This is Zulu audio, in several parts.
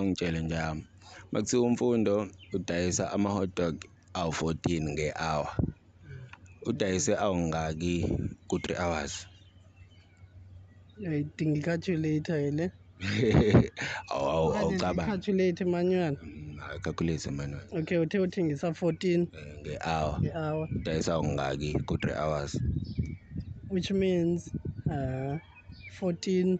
Ngitshele nje yami uma kuthiwa uMfundo udayisa ama-hot dog awu-fourteen nge-hour, udayise awungaki ku-three hours? Idinga i-calculator ke le. Awu awu awucabangi. Calculator manual. Mm, Calculate manual. Okay, uthe uthengisa 14 Eh, Nge-hour. nge-hour Udayisa awungaki ku-three hours? which means uh 14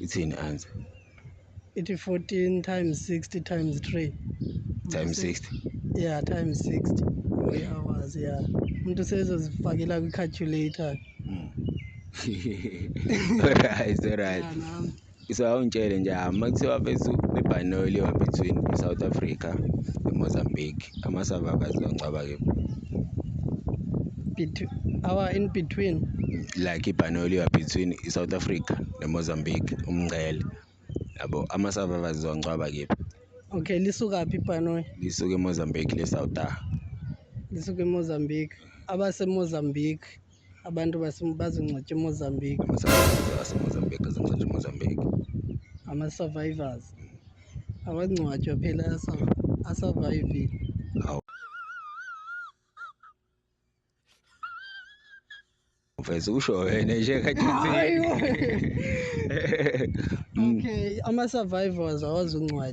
ithini answer ithi 14 times 60 times 3 times 60 yeah times 60 boy hours yeah umuntu sezozifakela kwi calculator mm. alright alright so awungitshele nje uma kuthiwa bethu bebhanoyile wa between i-south africa nemozambique amasava akazi longcaba kephi our in between like ibhanoyi liba between i-south africa nemozambique umngcele yabo ama-survivors zongcwaba kephi okay lisuka phi ibhanoyi lisuke emozambique lesawuta lisuke emozambique abasemozambique abantu bazongcwatshwa emozambique asemozambique azongcwatshwa emozambique ama-survivors awangcwatshwa phela asurvivile uveze usho wena nje khathizini okay ama-survivors awazi uncwadi